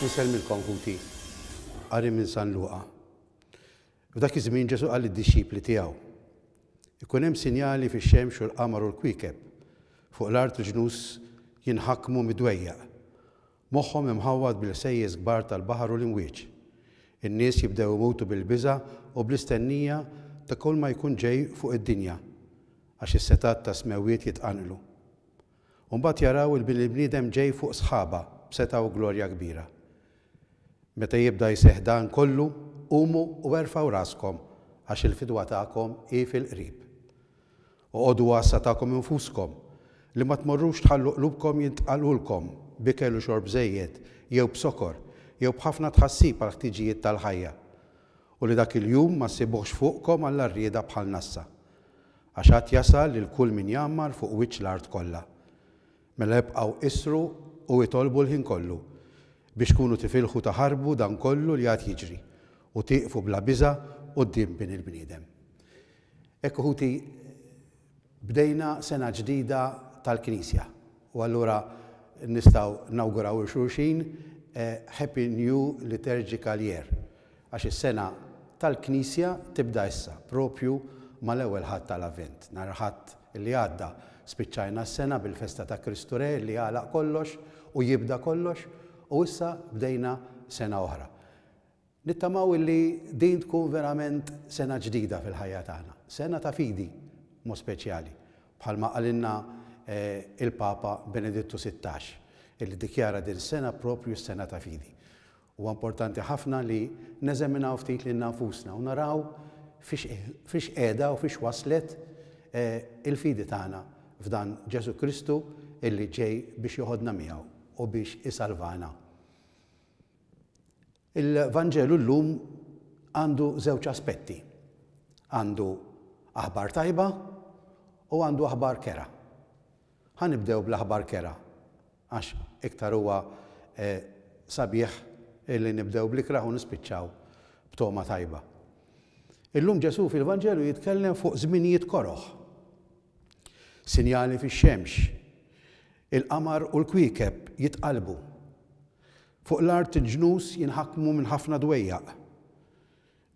Insellmilkom, ħuti. Qari minn San Luqa. F'dak iż-żmien Ġesù qal lid-dixxipli tiegħu, Ikun hemm sinjali fix-xemx u l-qamar u l-kwiekeb, fuq l-art il-ġnus jinħakmu mid-dwejjaq, moħħhom imħawwad bil-ħsejjes kbar tal-baħar u l-imwieġ. In-nies jibdew imutu bil-biża' u bl-istennija ta' kulma jkun ġej fuq id-dinja, għax is-setgħat tas-smewwiet jitqanqlu. u mbagħad jaraw il-Bini l-Bniedem ġej fuq sħaba b'setgħa u glorja kbira. Meta jibda jseħħ dan kollu, qumu u erfgħu raskom, għax il-fidwa tagħkom hi fil-qrib. Oqogħdu għassa tagħkom infuskom, li ma tmorrux tħallu qlubkom jintqalqulkom b'ikel u xorb żejjed jew b'sokor jew b'ħafna tħassib għall-ħtiġijiet tal-ħajja, u li dak il-jum ma ssibuhx fuqkom għall-għarrieda bħal nassa. Għax għad jasal lil kull min jgħammar fuq wiċċ l-art kollha. Mela ibqgħu issru u itolbu l-ħin kollu, biex tkunu tifilħu taħarbu dan kollu li għad jiġri, u tieqfu bla biża' quddiem Bin il-bniedem. Hekk ħuti bdejna sena ġdida tal-Knisja, u allura nistgħu nawguraw lil xulxin Happy New Liturgical Year. għax is-sena tal-Knisja tibda issa, proprju mal-Ewwel Ħadd tal-Avvent. Nhar il-Ħadd li għadda spiċċajna s-sena bil-festa ta' Kristu Re li jagħlaq kollox u jibda kollox u issa bdejna sena oħra. Nittamaw illi din tkun verament sena ġdida fil-ħajja tagħna, sena ta' fidi b'mod speċjali, bħalma qalilna il-Papa Benedittu Sittax, illi ddikjara din is-sena proprju s-sena ta' fidi. Huwa importanti ħafna li neżaminaw ftit lilna nfusna u naraw fiex qiegħda u fiex waslet il-fidi tagħna f'dan Ġesù Kristu li ġej biex joħodna miegħu u biex isalvana. Il-Vanġelu llum għandu żewġ aspetti, għandu aħbar tajba u għandu aħbar kerha. Ħa nibdew bl-aħbar kerha. Għax iktar huwa sabiħ li nibdew bl-ikrah u nispiċċaw b'togħma tajba. Illum Ġesù fil-Vanġelu jitkellem fuq żminijiet koroh. Sinjali fix-xemx, il-qamar u l-kwiekeb jitqallbu. Fuq l-art il-ġnus jinħakmu minn ħafna dwejjaq,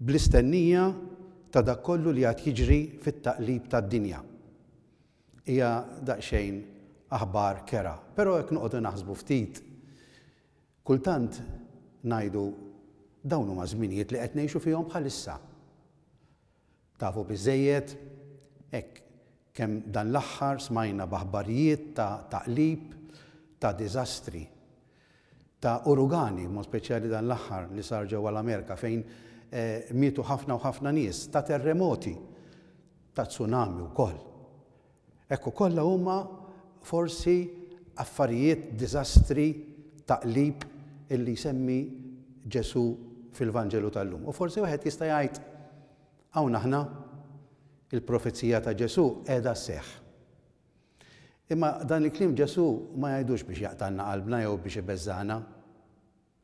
bl-istennija ta' dak kollu li għad jiġri fit-taqlib tad-dinja. Hija daqsxejn aħbar kerha, però jekk noqogħdu naħsbu ftit, kultant ngħidu, dawn huma żminijiet li qed ngħixu fihom bħalissa. Tafu biżżejjed, hekk, kemm dan l-aħħar smajna b'aħbarijiet ta' taqlib, ta' diżastri, ta' urugani, b'mod speċjali dan l-aħħar li sar ġewwa l-Amerika fejn mietu ħafna u ħafna nies, ta' terremoti, ta' tsunami wkoll. Hekk ukoll huma forsi affarijiet, diżastri ta' qlib illi jsemmi Ġesù fil-Vanġelu tal-lum. U forsi wieħed jista' jgħid, hawn aħna, il-profezija ta' Ġesù qiegħda sseħħ. Imma dan il-kliem Ġesù ma jgħidux biex jaqtgħalna qalbna jew biex ibeżżagħna.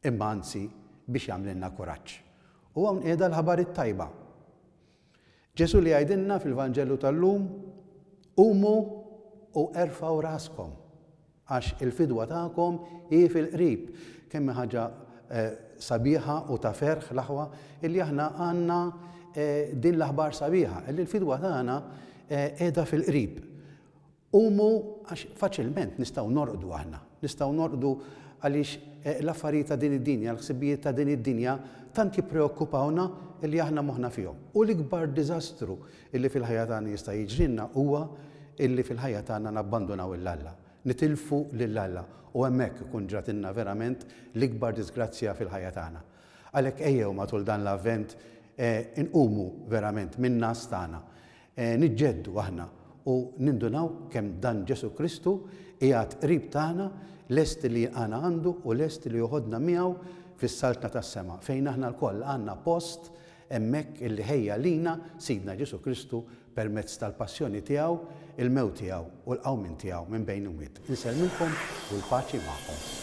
imma anzi biex jagħmlilna kuraġġ. U hawn qiegħda l-Ħabar it-Tajba. Ġesù li jgħidilna fil-Vanġelu tal-lum, Qumu u erfgħu raskom, għax il-fidwa tagħkom hi fil-qrib. Kemm hi ħaġa eh, sabiħa u ta' ferħ l-aħwa illi aħna għandna eh, din l-aħbar sabiħa, illi l-fidwa tagħna eh, qiegħda fil-qrib. Qumu għax faċilment nistgħu norqdu aħna. Nistgħu norqdu għaliex l-affarijiet ta' din id-dinja, l-ħsibijiet ta' din id-dinja tant jippreokkupawna li aħna moħħna fihom. U l-ikbar diżastru li fil-ħajja tagħna jista' jiġrilna huwa li fil-ħajja tagħna nabbandunaw 'l Alla, nitilfu lil Alla, u hemmhekk ikun ġratilna verament l-ikbar diżgrazzja fil-ħajja tagħna. Għalhekk ejjew matul dan l-Avvent inqumu verament min-ngħas tagħna, Niġġeddu aħna u nindunaw kemm dan Ġesù Kristu qiegħed qrib tagħna, lest li jilqagħna għandu u lest li joħodna miegħu fis-Saltna tas-Sema, fejn aħna lkoll għandna post hemmhekk illi ħejja lina Sidna Ġesù Kristu permezz tal-Passjoni tiegħu, il-mewt tiegħu u l-qawmien tiegħu minn bejn l-imwiet. Insellmilkom u l-paċi magħkom.